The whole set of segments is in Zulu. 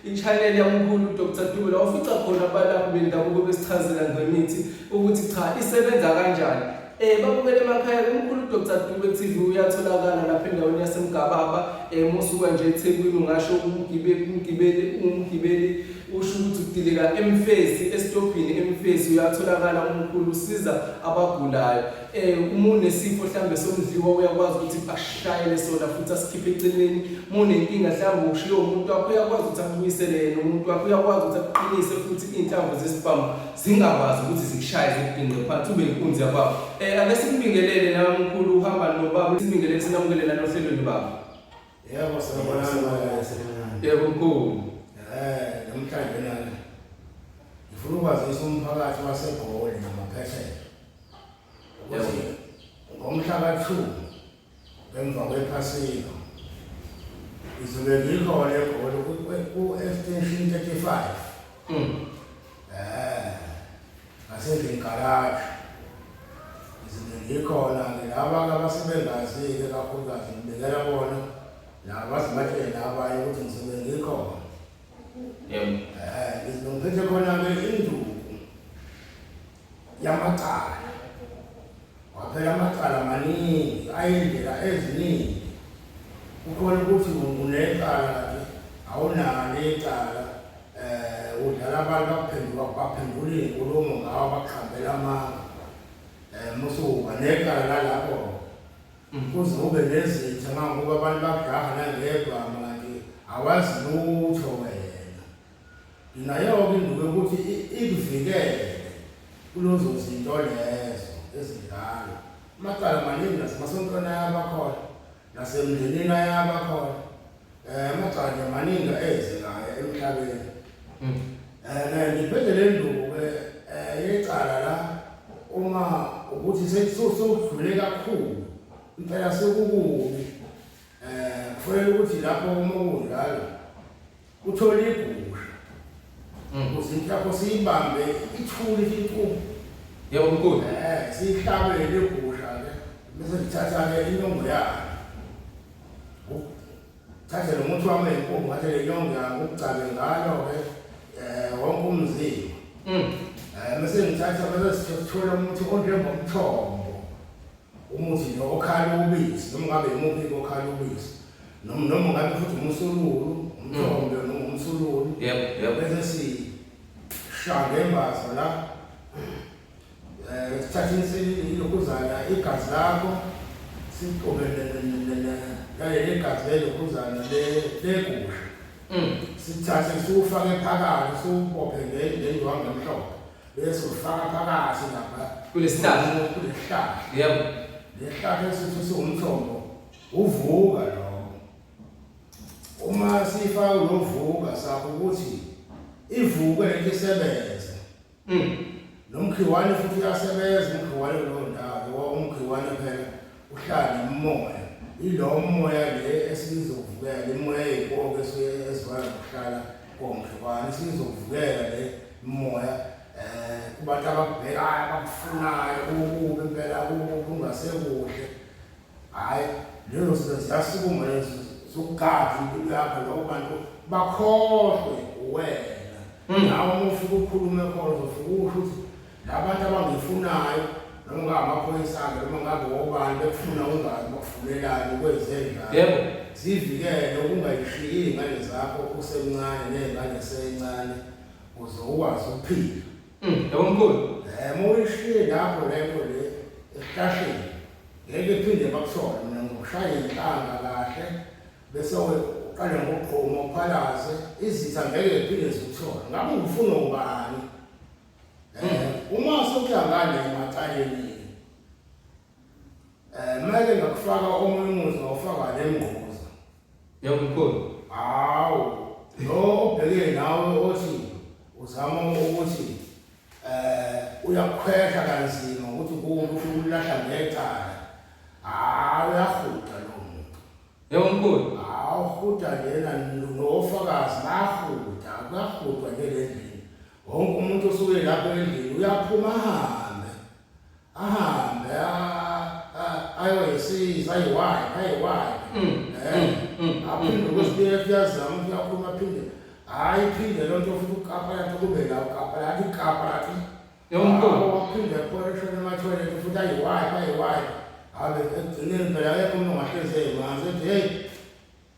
i-channel yamkhulu uDr Dube la ofica khona abalaphi bendabuko besichazela ngemithi ukuthi cha isebenza kanjani Eh babukele emakhaya kumkhulu Dr Dube TV uyatholakala lapha endaweni yaseMgababa eh musuka nje eThekwini ungasho umgibeli umgibeli umgibeli usho ukuthi udilika emfesi esitobhini emfesi uyatholakala umkhulu usiza abagulayo eh uma unesifo mhlambe somdliwa uyakwazi ukuthi ashayele sona futhi asikhiphe eceleni mune inkinga mhlambe ushiye umuntu wakho uyakwazi ukuthi akubuyisele yena umuntu wakho uyakwazi ukuthi aqinise futhi inhlamvu zesibhamu zingakwazi ukuthi zikushaye zikubhinqe phansi ube inkunzi yakwabo um ake simbingelele nawe mkhulu uhamba nobaba simbingelele sinamukelele nanohlelweni baba yebo yebo mkhulu um namhlanje nani ngifuna ukwazisa umphakathi wasegoli namaphesela ukuthi ngomhla ka-two Emva kwephasika ngizobe ngilihole egolo ku-extension 35 um ngasendlini garaji ngizobe ngikhona ngilaba abasebengazi-ke kakhulukazi ngibekela bona nabazibatshele nabanye ukuthi ngizobe ngikhona um ngizobe ngiphethe khona-ke induku yamacala waphela amacala maningi ayindlela eziningi ukhona ukuthi unecala nje awunalo icala um udlala abantu bakuphenduka baphendula iy'nkulumo ngawo bakuhambela amanga um musuba necala lalapho mm. kuze ube nezitha mangokuba abantu bakujaha nangedwa manje awazi lutho wena Nayo-ke induku yokuthi ikuvikele kulezo zinto lezo ezidlala amacala maningi nasemasontweni ayabakhona nasemndenini ayabakhona um amacala nje maningi eyenzekayo emhlabeni um ngiphinde le nduku-ke um yecala la uma ukuthi sewudlule kakhulu impela sekukubi um kufanele ukuthi lapho uma kunjalo Uthole igusha. Mm. Uzinhlapho siyibambe ithuli inkulu. Yebo mkhulu. Eh, siyihlabele igusha ke. Bese ngithatha ke inyongo yakhe. Thathe lo muthi wami enkomo ngathi le nyongo yami ukugcabe ngayo ke eh wonke umzimba. Mm. Eh, bese ngithatha bese sithola umuthi onjengomthombo. Umuthi nje okhala ubisi, noma ngabe yimuphi okhala ubisi. Noma noma ngabe futhi umusululu, umthombe noma umsululu. Yebo, yebo. Bese sishanga imbazo la. Eh, sithathe isilokhuzana igazi lakho siqobe naleli igazi lelokhuzana legusha. Mm. Sithathe siwufake phakathi siwubophe ngendwangu emhlophe. Bese ufaka phakathi lapha kulesihlahla kulesihlahla. Yebo. Lesihlahla esithi siwumthombo uvuka lo. Uma sifaka lovuka sakho ukuthi ivuke lento isebenze. Mm. Nomkhiwane futhi uyasebenza umkhiwane kulo ndawo ngoba umkhiwane phela uhlala nomoya ilo moya le esizokuvukela imoya yey'koke ezifana nokuhlala konke kwani sizokuvukela le moya um kubantu abakubhekayo abakufunayo kukubi impela kukubi kungasekuhle hhayi lezo zinto ziyasukuma lezo zokugada impilo yakho loko bantu bakhohlwe uwena hmm. nawe uma ufike ukhulume khona uzofike usho ukuthi Labantu abangifunayo noma ngamaphoyisa-ke noma ngabe obani bekufuna ungazi bakufunelani ukwenze njani. Yebo. Zivikele ukungayishiyi iy'ngane zakho usemncane ney'ngane seyincane uze ukwazi ukuphila. Mm, Yebo mkhulu. Um uma uyishiye lapho lento le esihlahleni ngeke iphinde bakushone mina ngokushaya inhlanga kahle bese we- uqale ngokugquma uphalaze izitha ngeke ziphinde zikushone ngabe ungifuna ubani Eh uma sokuyangane emacaleni eh mele ngakufaka omunye umuzi ngawufaka le mngquza. Yawumkhulu. Hawu. Lo obheke nawe othi uzama ukuthi eh uyakhwehla kanzima ukuthi kuwumuntu ufuna ukulahla ngecala. Hawu uyahuqa lo muntu. Yawumkhulu. Hawu huqa yena nofakazi bahuqa kuyahutwa nje le ndlela. Wonke umuntu osuke lapho endlini uyaphuma ahambe. Ahambe ayoyisiza ayiwayi ayiwayi. Aphinde kwesibili efiyazama ukuthi aphuma aphinde. Hayi iphinde loo nto futhi ukapa yakhe kube la ukapa yakhe ikapa yakhe. Yonke waphinde ephoreshona emathoyilethi futhi ayiwayi ayiwayi. Habe ekugcineni phela akekho umuntu ongahlezi emanzi ethi heyi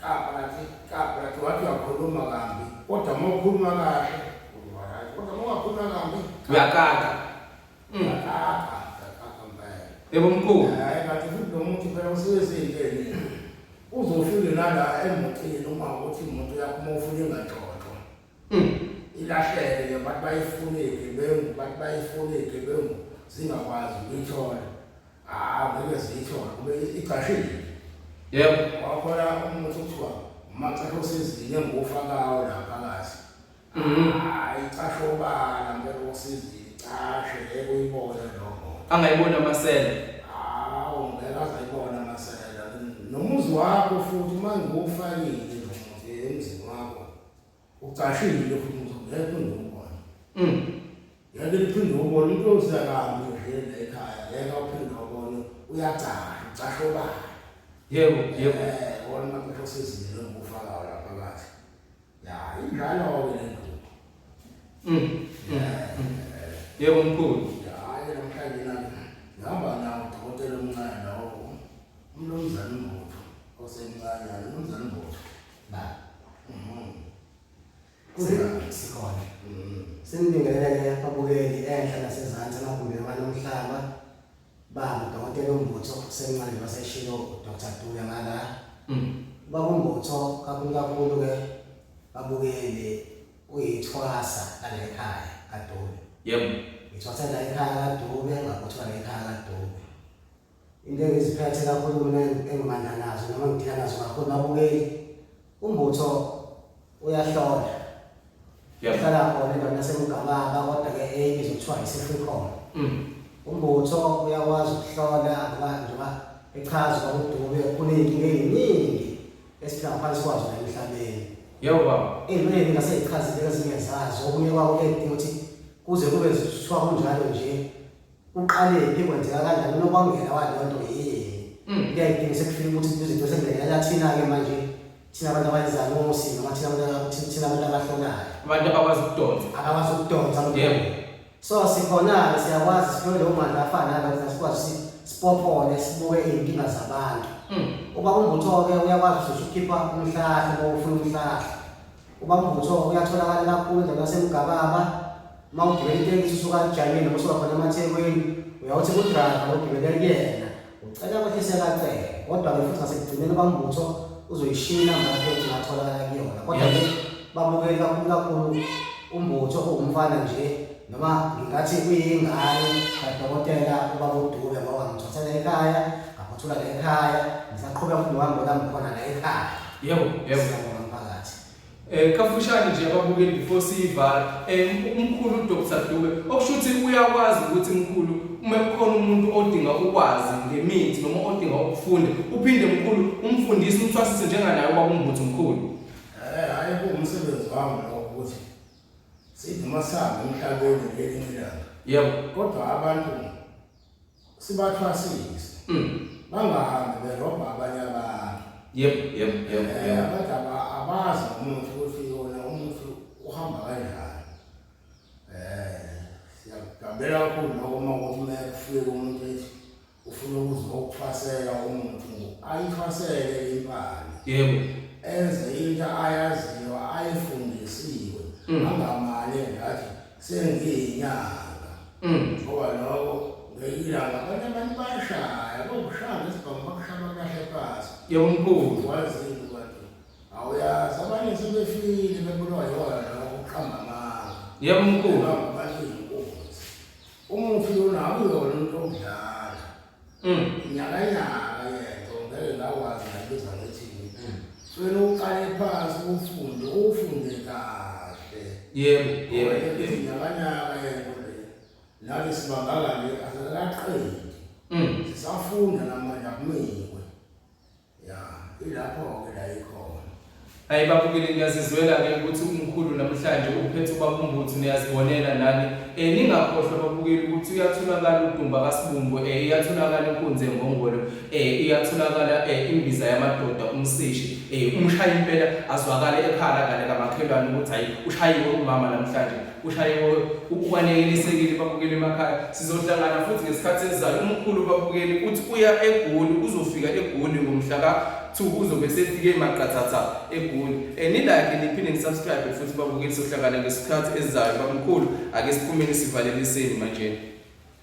Kabrathi, kabrathi, wathi uyakhuluma kambi. Kodwa uma ukhuluma kahle, uzoba right. Kodwa uma ungakhuluma kambi, Uyakaka. Mm. uyakaka, uyakaka mpela. Yebo mkhulu. Hayi, kanti futhi lo muntu phela usebenzile. Uzofike nala emotini uma ukuthi imoto yakho uma ufuna ingaxoxwa. Mm. Ilahleke ke bathi bayifune igebengu, bathi bayifune igebengu zingakwazi ukuyithola. Ah, ngeke ziyithola kube igcashile. Yebo. Wakhona umuntu kuthiwa umacashe osizini engufa kawo lapha kazi. Mhm. Hayi icashe obala ngeke osizini icashe ngeke uyibone lo muntu. Angayibona amasela. Hawu ngeke azayibona masela. Nomuzi wakho futhi uma ngiwufakile nje emzini wakho. Ucashile futhi ngeke ngikubone. Mm. Yake liphinde ubone into ozakami nje ekhaya ngeke uphinde ubone uyacasha ucasha obani. Yebo yebo. Eh wona maqasho sezile ngokufaka wala phakathi. Ya injalo ke le nto. Mm. mm. Yebo mkhulu. Hayi namhlanje nami ngihamba nawo dokotela omncane lawo. Umnumzane uMbotho osemncane umnumzane uMbotho. ba mhm. kusekhona mhm. senibingelele ababukeli enhla nasezantsi amagumbi amanye omhlaba baba dokotela umbutho senxele baseshilo udr duya ngala mm. baba umbutho kakhulu kakhulu ke babukeli uyithwasa lala ekhaya kadube yebo ngithwasa la ekhaya kadube ngakuthiwa la ekhaya kadube Into engiziphethe kakhulu mina engimandla nazo noma ngidila nazo kakhulu babukeli umbutho uyahlola yahlala khona endaweni yasemgababa kodwa ke enye izokuthiwa yi-free com mm. umbutho uyakwazi ukuhlola ngoba njengoba echaza uba udube kuney'nkinga ey'ningi esiphila ngaphansi kwazo la emhlabeni yebo baba into eningi ngaseyichazile ezinye zazo okunye kwako kuyadinga ukuthi kuze kube kuthiwa kunjalo nje Uqalephi kwenzeka kanjani unokwamukela waleyo nto yeye. Ngiyayidinga sekufika ukuthi izinto sengibhekela thina ke manje thina abantu abayizanusi noma thina abantu thina abantu abahlolayo. Abantu abakwazi ukudonsa. Abakwazi ukudonsa Yebo. So sikhona-ke siyakwazi sithole leyo mandla afana nalokho sikwazi ukuthi sipophole sibuke iy'nkinga zabantu. Ubaba uMbutho-ke uyakwazi ukuthi ukhipha umhlahla uma ufuna umhlahla. Ubaba uMbutho uyatholakala kakhulu endaweni yaseMgababa, uma ugibela itekisi usuka ajanyeni noma usuka khona emathekwini uyawuthi kudrayiva logibele kuyena ucela ukuthi sekacele kodwa-ke futhi ngasekugcineni kwambutho uzoyishiya inamba yakhe yokuthi ngatholakala kuyona kodwa-ke babukeli kakhulu kakhulu umbutho owumfana nje noma ngingathi kuyingane kadokotela ubaba udube ngoba ngimthathele ekhaya ngaphothula le ekhaya ngisaqhubeka futhi ngihambe olami khona la ekhaya yebo yebo Eh kafushane nje ababukeli before siyivala eh umkhulu uDr Dube okusho ukuthi uyakwazi ukuthi mkhulu uma kukhona umuntu odinga ukwazi ngemithi noma odinga ukufunda uphinde mkhulu umfundisi umthwasise njenganaye kwakumbutho mkhulu eh hayi kuwumsebenzi wami lo ukuthi sithi masambe emhlabeni ngelinye ilanga yebo kodwa abantu sibathwasise mm. bangahambi berobha abanye abantu yebo yebo yebo eh, abantu abazi umuntu ukuthi yona umuntu uhamba kanjani eh siyakugambela kakhulu noko uma ukuthi uma kufike umuntu ethi ufuna ukuzwa ukuthwasela umuntu ayithwasele impani yebo enze into ayaziyo ayifundisiwe mm. angamali ngathi sengiyinyanga mm. ngoba lokho ngeyilanga abanye abantu bayashaya bokushaya ngesibhamu bakushaya bakahle pasi yebo mkhulu wazini kwathi awuyazi abanye sebefile bebulwa yona lokho kuqhamba amanga yebo mkhulu Mm. Nyakanyaka yento ngeke ngakwazi ngayibiza ngithi mm. Sicela uqale phansi ufunde ufunde kahle. Yebo, yebo. Nyakanyaka yento le. Nathi sibangakani asikaqedi. Mm. Sisafunda namanje akumile. Ya, ilapho-ke la ikhona. Hayi babukeli ngiyazizwela-ke ukuthi umkhulu namhlanje uphethe ubakumbuthu niyazibonela nani. Eh ningakhohlwa babukeli ukuthi uyatholakala udumba kasibumbu eh iyatholakala inkunzi engongolo eh iyatholakala eh imbiza yamadoda umsishi eh umshaya impela azwakale ekhala ngale kamakhelwane ukuthi hayi ushayiwe umama namhlanje. Ushayiwe ubalekelisekile babukeli emakhaya. Sizohlangana futhi ngesikhathi esizayo. Umkhulu babukeli uthi uya eGoli, uzofika eGoli ngomhla ka Thuku uzobe sefike emaqathatha eGoli. Eh nilike niphinde nisubscribe futhi babukeli sohlangana ngesikhathi esizayo. Bamkhulu ake siphumeni sivaleliseni manje.